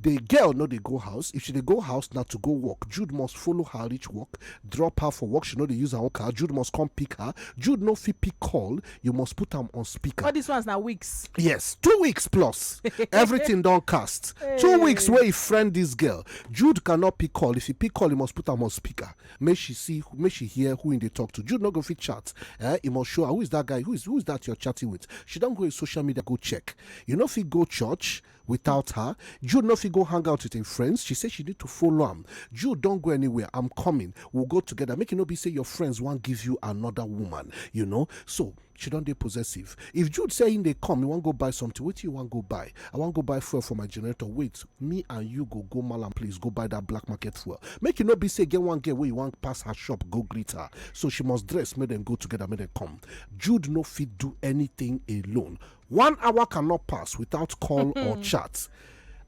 The girl no dey go house, if she dey go house na to go work, Jude must follow her reach work, drop her for work, she no dey use her own car, Jude must come pick her, Jude no fit pick call, you must put am on speaker. All these ones na weeks. Yes, two weeks plus, everything don cast. Two weeks wey he friend this girl, Jude cannot pick call, if he pick call, he must put am on speaker, make she see, make she hear who he dey talk to, Jude no go fit chat, eh, he must show her, who is that guy, who is, who is that you're chatting with, she don go his social media go check, you no fit go church, Without her, Jude no fit go hang out with im friends, she say she need to follow am. Jude don't go anywhere, I'm coming, we'll go together make e no be say your friends wan give you another woman, you know. So, she don dey possessive. If Jude say im dey come, he wan go buy something, wetin you wan go buy? I wan go buy fuel for my generator, wait, me and you go go Mallam place go buy that black market fuel. Make e no be say e get one girl wey you wan pass her shop go greet her. So, she must dress make dem go together, make dem come. Jude no fit do anything alone, one hour cannot pass without call or chat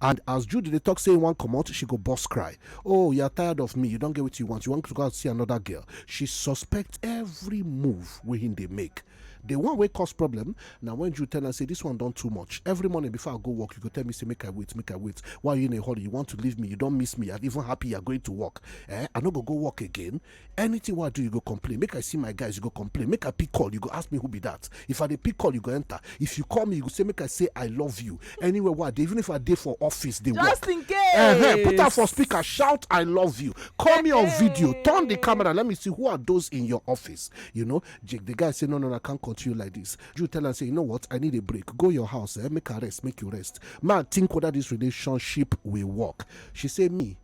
and as judy dey talk say one come out, she go boss cry oh you are tired of me you don't get what you want you want to go and see another girl she suspect every move wey him dey make the one wey cause problem Now when you tell am say this one done too much every morning before i go work you go tell me say make i wait make i wait why you in a hurry you want to leave me you don't miss me i'm even happy you're going to work eh i no go go work again anything wey i do you go complain make i see my guys you go complain make i pick call you go ask me who be that if i dey pick call you go enter if you call me you go say make i say i love you anywhere wey i dey even if i dey for office dey work just in case uh-huh. put am for speaker shout i love you call me on video turn the camera let me see who are those in your office you know jake the guy say no no, no i can't continue like this you tell am say you know what i need a break go your house eh? make i rest make you rest man think whether this relationship will work she say me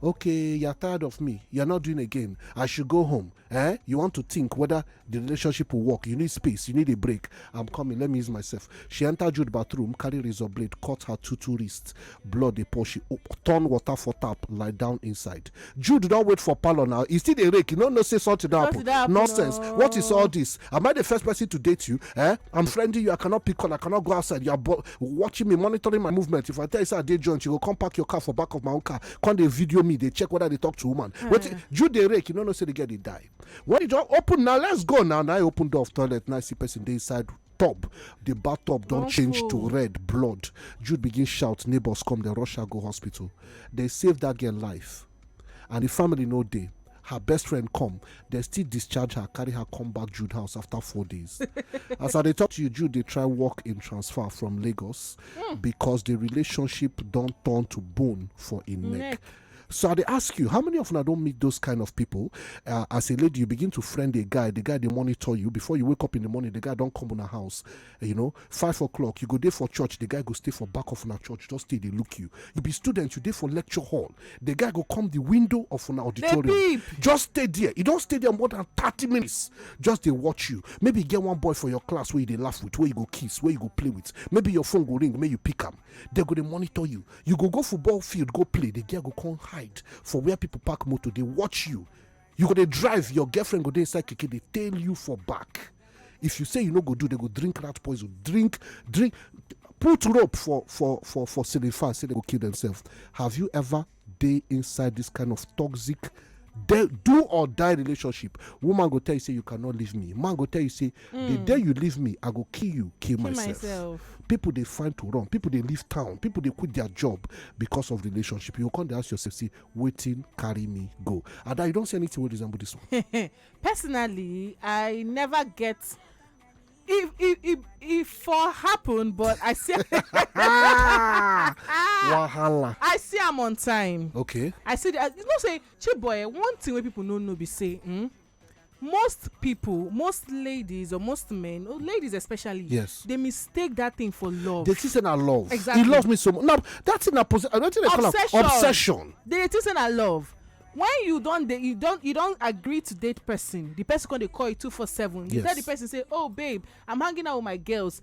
okay you're tired of me you're not doing again i should go home eh you want to think whether the relationship will work you need space you need a break i'm coming let me use myself she enter jude bathroom carry razor blade cut her two two wrists blood dey pour she turn water for tap lie down inside jude don't wait for parlor now Is still a rake you no know say something don happen nonsense no. what is all this am i the first person to date you eh i'm friending you i cannot pick on i cannot go outside you are bo- watching me monitoring my movement if i tell you say i dey joint you go come park your car for back of my own car come dey video me dey check whether i dey talk to woman hmm. wetin you dey rake you no know say the girl dey die when you just open now let's go now na i open door of toilet na i see person dey inside tub the bathtub don change to red blood jude begin shout neighbors come dem rush her go hospital dem save that girl life and di family no dey her best friend come dem still discharge her carry her come back jude house after four days as i dey talk to you jude dey try work im transfer from lagos hmm. because di relationship don turn to bone for im neck so i dey ask you how many of una don meet those kind of people uh, as a lady you begin to friend a guy the guy dey monitor you before you wake up in the morning the guy don come una house you know five o'clock you go dey for church the guy go stay for back of una church just stay dey look you you be student you dey for lecture hall the guy go come the window of una auditorium just stay there you don stay there more than thirty minutes just dey watch you maybe you get one boy for your class wey you dey laugh with wey you go kiss wey you go play with maybe your phone go ring make you pick am they go dey monitor you you go go football field go play the girl go come hide for where people park motor dey watch you You go dey drive, your girlfriend go dey inside keke dey tail you for back. If you say you no go do, they go drink rat poison, drink, drink, put rope for for for for ceiling fan, say they go kill themselves. Have you ever dey inside this kind of toxic de- do or die relationship? Woman go tell you say you cannot leave me. Man go tell you say the day you leave me, I go kill you, kill, myself. myself. People dey find to run. People dey leave town. People dey quit their job because of relationship. You go come dey ask yourself, say, wetin carry me go ada you don see anything wey resemble this one. personally i never get it it it it for happen but i see wahala i see am on time okay i see the you know say chiboy one thing wey people no know be say hmm, most people most ladies or most men or ladies especially yes they mistake that thing for love they think say na love exactly he love me so much now that thing na possession i don't think they call am obsession they think say na love when you don dey you don you don agree to date person the person come dey call you two four seven you yes. tell the person say oh babe i'm hanging out with my girls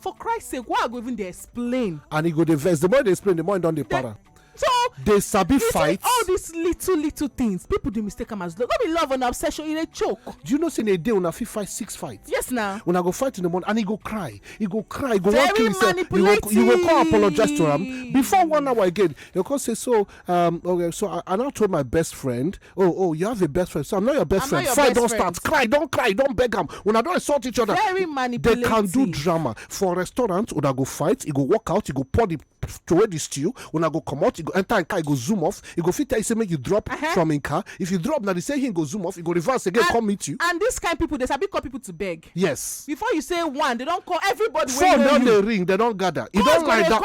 for christ sake why i go even dey explain and e go dey vex the more you dey explain the more e don dey para so dey sabi fight all these little little things people dey mistake am as love no be love and obsession e dey choke do you know say in a day una fit fight six fights yes na una go fight in the morning and e go cry e go cry e go wan kill himself you go you go come apologize to am before one hour again you go come say so um okay so i i now told my best friend oh oh you have a best friend so i'm not your best I'm friend your fight don't start cry don't cry don't beg am una don insult each other very manipulative they can do drama for restaurant una go fight e go walk out e go pour the throw the stew una go comot e go enter im car e go zoom off e go fit tell you say make you drop uh-huh. from im car if you drop na the same him go zoom off e go reverse again come meet you. and this kind people dey sabi call people to beg. yes. before you say one they don call everybody wey know you. phone don dey ring they don gather e don lie down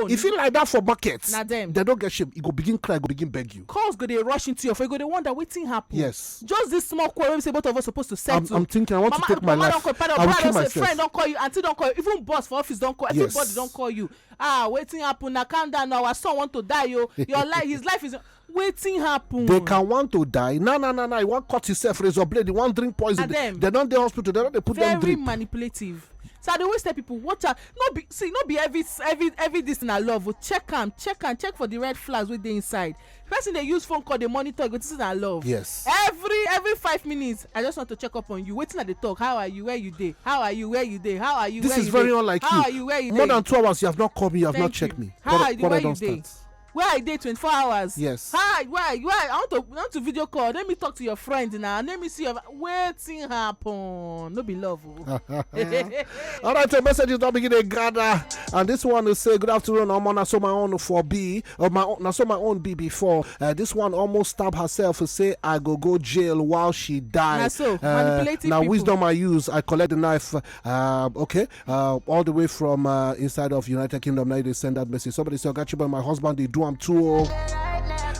e fit lie down for market. na dem. dem don get shame e go begin cry e go begin beg you. calls go dey rush into your phone you go dey wonder wetin happen. yes just this small quarrel wey be say both of us suppose to settle. i'm i'm thinking i want mama, to take my mama life don call pardon i will kill myself friend don call you aunty don call you even boss for office don call yes. everybody don call you ah wetin happen na calm down na our son want to die o oh. your life his life is wetin happen. they can want to die na na na na he wan cut himself razor blade he wan drink poison they don dey hospital they don dey put them drink. very manipulative so i dey always tell people watch out no be see no be every every every this na love o oh. check am check am check for the red flags wey dey inside person dey use phone call dey monitor you go think say na love yes every every five minutes i just want to check up on you wetin i dey talk how are you where you dey how are you where you dey how are you this is very unlike you how are you where you dey more than two hours you have not called me you have not checked me how are you where you dey where i dey twenty four hours. yes. hi why why i want to want to video call let me talk to your friend na let me see your wetin happen no be love o. Oh. all right the messages don begin dey gather and this one is say good afternoon omo na so my own for be or uh, my own na so my own be before uh, this one almost stab herself say i go go jail while she die. na so uh, manipulative people na wisdom i use i collect the knife uh, okay uh, all the way from uh, inside of United Kingdom. Now they send that message. Somebody say, "Got you, but my husband they do I'm too." Old.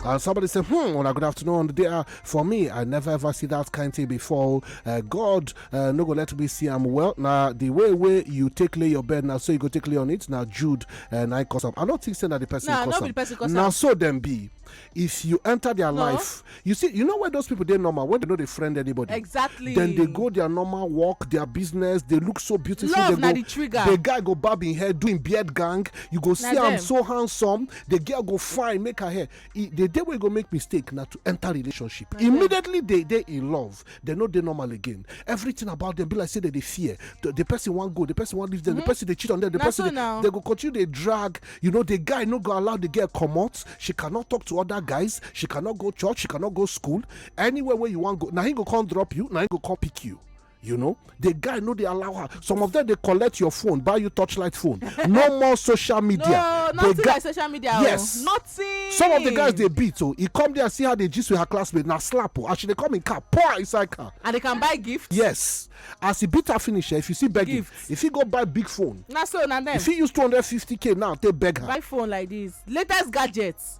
And somebody said, Hmm, well, good afternoon. There, uh, for me, I never ever see that kind thing before. Uh, God, uh, no go let me see I'm well. Now, the way way you take lay your bed now, so you go take lay on it. Now, Jude and uh, I cause I don't think say that the person nah, cause Now, so them be. if you enter their no. life you see you know where those people they normal when they know they friend anybody exactly then they go their normal walk their business they look so beautiful Love, they go the, trigger. the guy go bob in hair doing beard gang you go see i'm so handsome the girl go fine make her hair e, the day we go make mistake now to enter relationship immediately they they in love dem no dey normal again everything about them be like say they dey fear the, the person wan go the person wan leave them mm -hmm. the mm-hmm. person dey cheat on them the Na person so dey they go continue dey drag you know the guy no go allow the girl comot she cannot talk to other guys she cannot go church she cannot go school anywhere wey you wan go na him go come drop you na him go come pick you you know the guy no dey allow her some of them dey collect your phone buy you torchlight phone no more social media no nothing like social media oh. yes nothing some of the guys dey beat o oh. he come there see how they gist with her classmate na slap o oh. as she dey come in car pour her inside car and they can buy gift yes as he beat her finish eh, if you see begging if he go buy big phone na so na them. if he use two hundred fifty k now take beg her buy phone like this latest gadgets.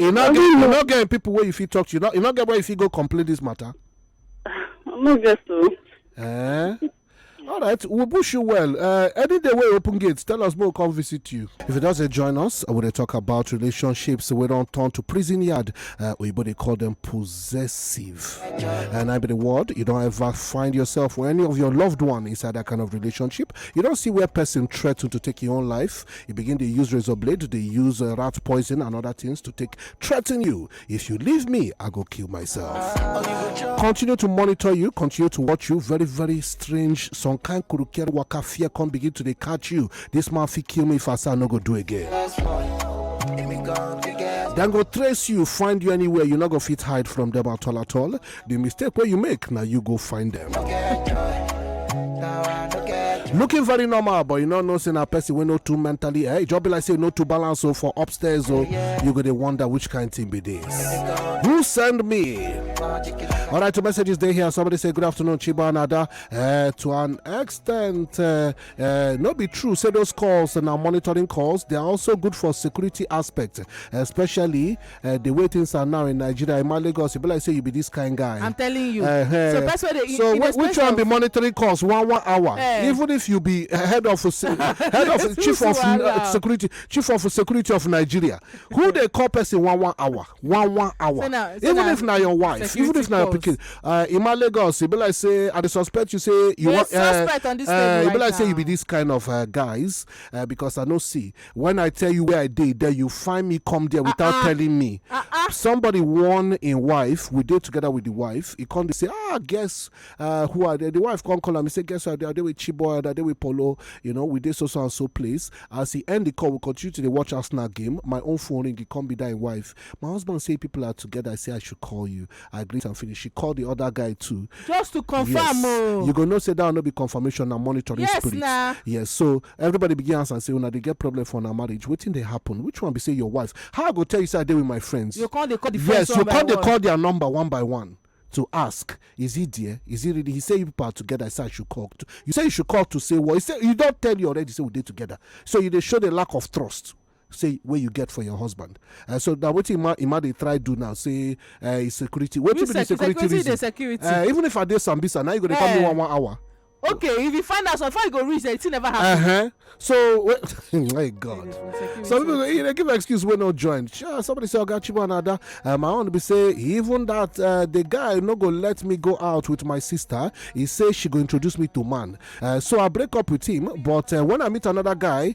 You not get you not get people where you feel talk to. You not you not get where you feel go complete this matter. No get so. Eh? All right, we we'll wish you well. Uh, any day we open gates, tell us more. Come visit you. If you doesn't join us, I will talk about relationships. We don't turn to prison yard. Uh, we they call them possessive, and I be the word. You don't ever find yourself or any of your loved one inside that kind of relationship. You don't see where person threatened to take your own life. e begin dey use razor blade dey use uh, rat poison and other things to take threaten you if you leave me i go kill myself continue to monitor you continue to watch you very very strange some kind kurukere waka fear come begin to dey catch you this man fit kill me if i say i no go do again dem go trace you find you anywhere you no go fit hide from them at all at all the mistake wey you make na you go find them. looking very normal but you no know say na person wey no too mentally eh e just be like say no too balance o for upstairs o you go dey wonder which kind thing be this who send me all right two messages dey here somebody say good afternoon chiba and ada Eh, to an extent eh, eh, no be true say those calls na monitoring calls they are also good for security aspect especially eh, the way things are now in nigeria in lagos e be like say you be this kind guy i'm telling you eh, eh. so person wey dey so wh- which one be monetary cost one one hour eh. even if you be eh, head of head of chief of uh, security chief of security of nigeria who dey call person one one hour one one hour so now, so even if na your wife even if na your pikin uh, in lagos e be like say i dey suspect you say you wan uh, uh, e be like say you be this kind of uh, guys uh, because i no see when i tell you where i dey then you find me come there without uh-uh. telling me uh-uh. somebody warn in wife we did together with the wife he come to say ah guess uh, who are they the wife come call him. he say guess who are they are they with chiboy are they with polo you know we did so so and so place as he end the call we continue to the watch us now game my own phone ring he come be that wife my husband say people are together i say i should call you I greet am finish. She call the other guy too. Just to confirm, yes. oh. You go know say that one no be confirmation na monitoring yes, spirit. Nah. Yes, so everybody begin answer and say una dey get problem for una marriage. Wetin dey happen? Which one be say your wife? How I go tell you say I dey with my friends? You call dey call the friends Yes, you call dey call their number one by one to ask, is he there? Is he really? He said you people are together. I said I should call. To, you say you should call to say what? Well, he said you don't tell you already. Say we did together. So you they show the lack of trust. say wey you get for your husband uh, so na wetin ima ima dey try do now say uh, is security wetin be the security reason security. Uh, even if i dey sambisa now you go dey come me one one hour. okay if you find out something you go reach there it still never happen. Uh -huh. so my god so people go you know, give excuse wey no join sure somebody say oga chibu and ada um, i wan be say even that uh, the guy no go let me go out with my sister he say she go introduce me to man uh, so i break up with him but uh, when i meet another guy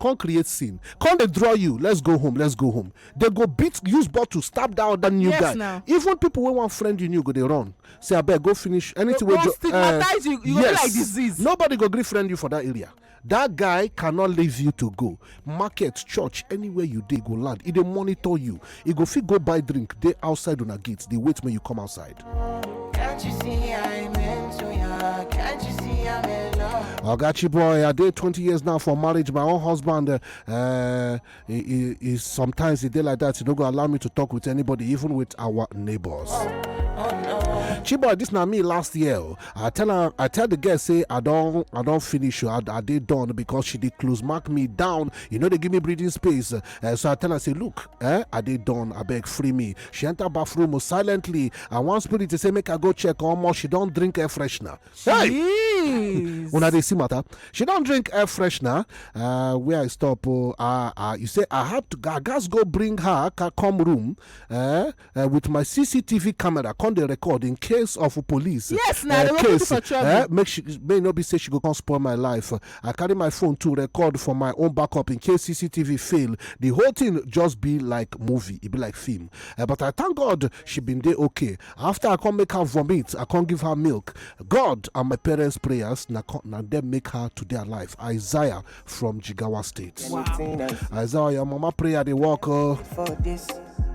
come create scene come dey draw you let's go home let's go home they go beat use bottle stab that other new yes, guy now. even people wey wan friend you new go dey run say abeg go finish anything wey jo uh, you, you yes like disease. nobody go gree friend you for that area that guy cannot leave you to go market church anywhere you dey go land e dey monitor you e go fit go buy drink dey outside una gate dey wait make you come outside. Can't you see I'm into ya? Can't you see I'm in love? Ogachi boy, I did 20 years now for marriage. My own husband, uh, uh, he, he, he- sometimes he did like that. He don't go allow me to talk with anybody, even with our neighbors. Chiboy, this na me last year. oh. I tell her, I tell the girl say I don't, I don't finish. oh, I, I did done because she did close mark me down. You know they give me breathing space. Eh, so I tell her, say, look, eh, I did done, I beg free me. She enter bathroom silently, and one spirit to say, make her go check how much she don't drink air freshener. Hey! when I did see matter, she don't drink air freshener. Uh, where I stop, oh, uh, uh, you say, I have to, I guess go bring her, come room, eh, eh, with my cctv camera come dey record in case of police Yes, na, eh, they go put you case for trouble. eh, make she may no be say she go come spoil my life i carry my phone to record for my own backup in case cctv fail the whole thing just be like movie e be like film Eh, but i thank god she been dey okay after i come make her vomit i come give her milk god and my parents prayers na co- na dem make her to dey alive isaiah from Jigawa State. I saw your mama prayer they walk. Uh,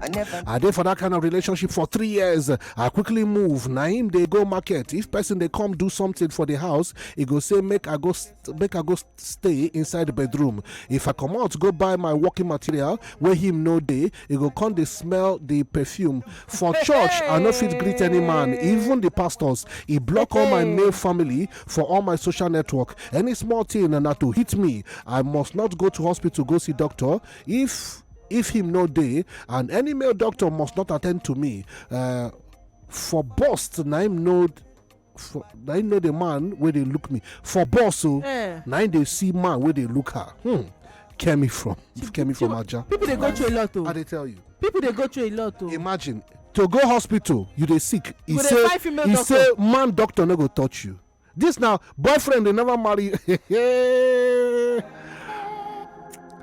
I never. I did for that kind of relationship for three years. I quickly move. Naim they go market. If person they come do something for the house, he go say make I go make I go stay inside the bedroom. If I come out go buy my working material where him no day, e go come dey smell the perfume for church i no fit greet any man even the pastors e block all my male family for all my social network any small thing na to hit me i must not go to hospital go see doctor if if him no dey and any male doctor must not attend to me uh, for bust na him no for na him know the man wey dey look me for boss o eh. na him dey see man wey dey look her hmm kemi from kemi from aja people dey go through a lot o i dey tell you people dey go through a lot o imagine to go hospital you dey sick e say e say man doctor no go touch you this now boyfriend dey never marry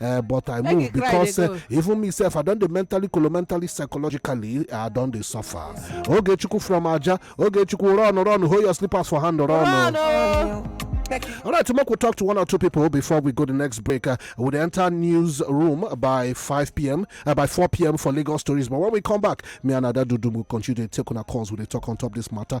eh, but i move because eh, even me sef i don dey mentally colomentally psychologically i don dey suffer ogechukwu from aja ogechukwu run run hold your slippers for hand run o. All right, tomorrow we'll talk to one or two people before we go the next break. Uh, we'll enter newsroom by 5 p.m., uh, by 4 p.m. for legal stories. But when we come back, me and Ada Dudu will continue to take on our calls. We'll talk on top this matter.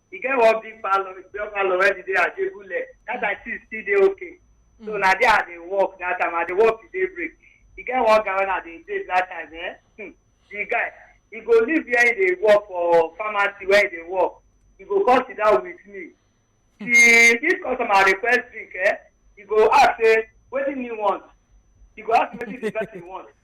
e get one big parlour big parlour wey be dey ajebule that time things still dey okay so na there i dey work that time i dey work till day break e get one guy wey i dey date that time eh hmm, the guy he go leave where he dey work for pharmacy where he dey work he go come sit down with me till if customer request drink eh he go ask say wetin he want he go ask me wetin the person want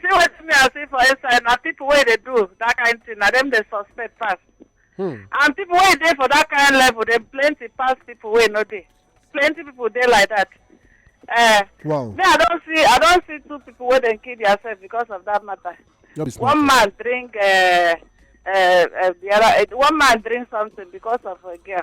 see wetin me i see for inside na people wey dey do that kind thing na dem dey suspect pass hmm. and people wey dey for that kind level dey plenty pass people wey no dey plenty people dey like that uh, wow. me i don see i don see two people wey dem kill theirself because of that matter one man drink uh, uh, uh, the other uh, one man drink something because of a girl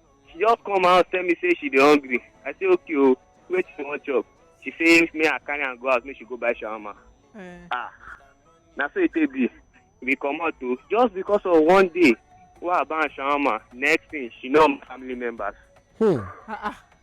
she just come out tell me say she dey hungry i say okay o oh, wait for one chop she say may i carry am go out make she go buy shawarma. Eh. ah na so e take be we comot o oh, just because of one day wey i buy am shawarma next thing she know my family members. Hmm. Ah, ah.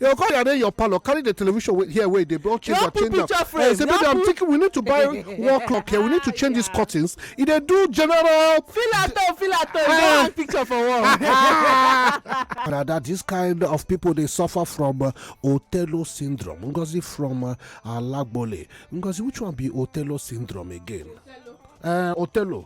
You go come arrange your parlor, carry the television wey- here where they don change Your am, change picture am. frame, Eh, say, your baby, I'm put- thinking we need to buy wall clock here. We need to change these curtains. E dey do general Feel at home, feel at home. Don't hang picture for wall. Rather, this kind of people they suffer from uh, Othello syndrome. Ngozi from uh, Alagbole. Ngozi, which one be Othello syndrome again? Uh, Othello.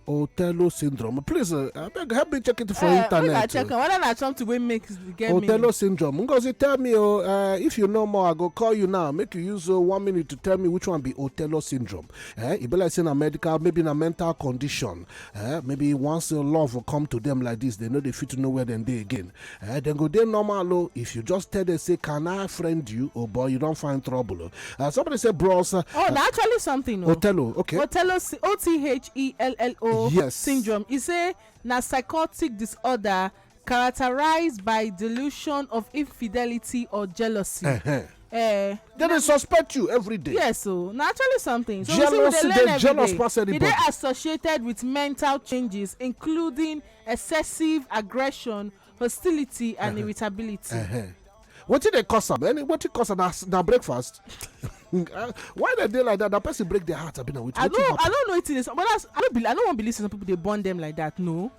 Otello syndrome. Please, uh, I beg, help me check it for uh, internet. Make I check oh. whether na something wey make get Otello me. Otello syndrome. Ngozi, tell me, oh, uh, if you know more, I go call you now. Make you use uh, one minute to tell me which one be Otello syndrome. Eh? It be like saying a medical, maybe a mental condition. Eh? Maybe once uh, love will come to them like this, they know they fit to know where then they again. eh dem go dey normal o if you just tell them say can i friend you oh boy you don find trouble o uh, somebody say bros. Uh, oh na actually something o. othello okay. othello o t h e l l o. yes syndrome e say na psychotic disorder characterized by delusion of infidelity or jealousy. Uh -huh. Eh, then they suspect you every day. yes o na actually something so jealousy, we say we dey learn every day e dey associated with mental changes including excessive aggression hostility and uh-huh. irritability uh-huh. wetin dey cause am any wetin cause am na breakfast uh, why dem dey like that na person break their heart abi na wetin happen. i no i no know wetin dey but that's i no believe i no wan believe say some people dey born them like that no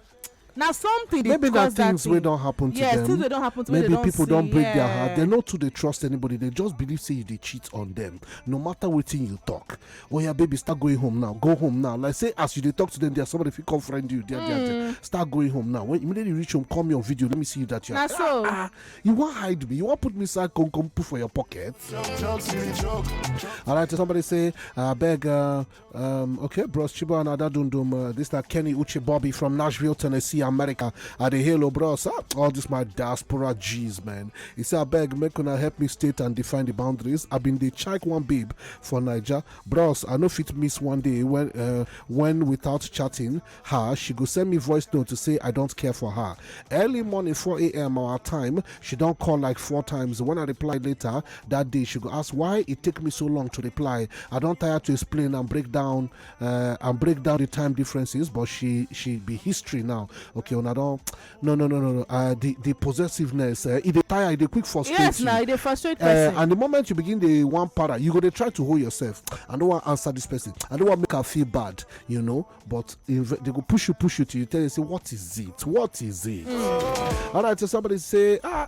na something dey maybe na things wey don happen to them things wey don happen to maybe people don break their heart they no too dey trust anybody they just believe say you dey cheat on them no matter wetin you talk oh yeah baby start going home now go home now like say as you dey talk to them there somebody fit come friend you there there there start going home now when immediately you reach home call me on video let me see you that you Na are so. ah you wan hide me you wan put me inside come come put for your pocket all right somebody say abeg uh, um, okay bros chibo and ada dundum uh, this na kenny uche bobby from nashville tennessee america i dey hail o bros ah, all this my diaspora g's man he say abeg make una help me state and define the boundaries i bin dey check one babe for naija bros i no fit miss one day when uh, when without chatting her she go send me voice note to say i don't care for her early morning 4 a.m our time she don't call like four times when i reply later that day she go ask why it take me so long to reply i don't tire to explain and break down uh, and break down the time differences but she she be history now okay una don no no no no no uh, the the possessiveness uh, e dey tire e dey quick frustrate yes, you yes na e dey frustrate uh, person and the moment you begin dey wan para you go dey try to hold yourself i no wan answer this person i no wan make am feel bad you know but they go push you push you till you tell you say what is it what is it mm. all right so somebody say ah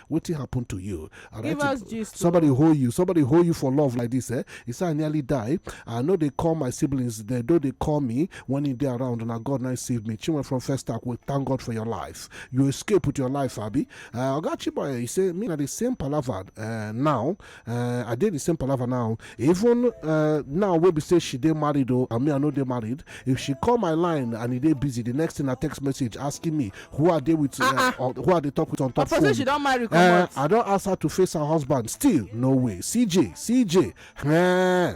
wetin happen to you and give us gist somebody hold you somebody hold you for love like this eh he say i nearly die i know they call my siblings they know they call me when e dey around na god na save me chinwe from first act we thank god for your life you escape with your life abi uh, oga chiboye he say me na the same palava uh, now uh, i dey the same palava now even uh, now wey be say she dey married o and me i no dey married if she call my line and e dey busy the next thing na text message asking me who i dey with uh, uh-uh. on, who i dey talk with on top phone she don marry uh, i don ask her to face her husband still no way cj cj. Eh.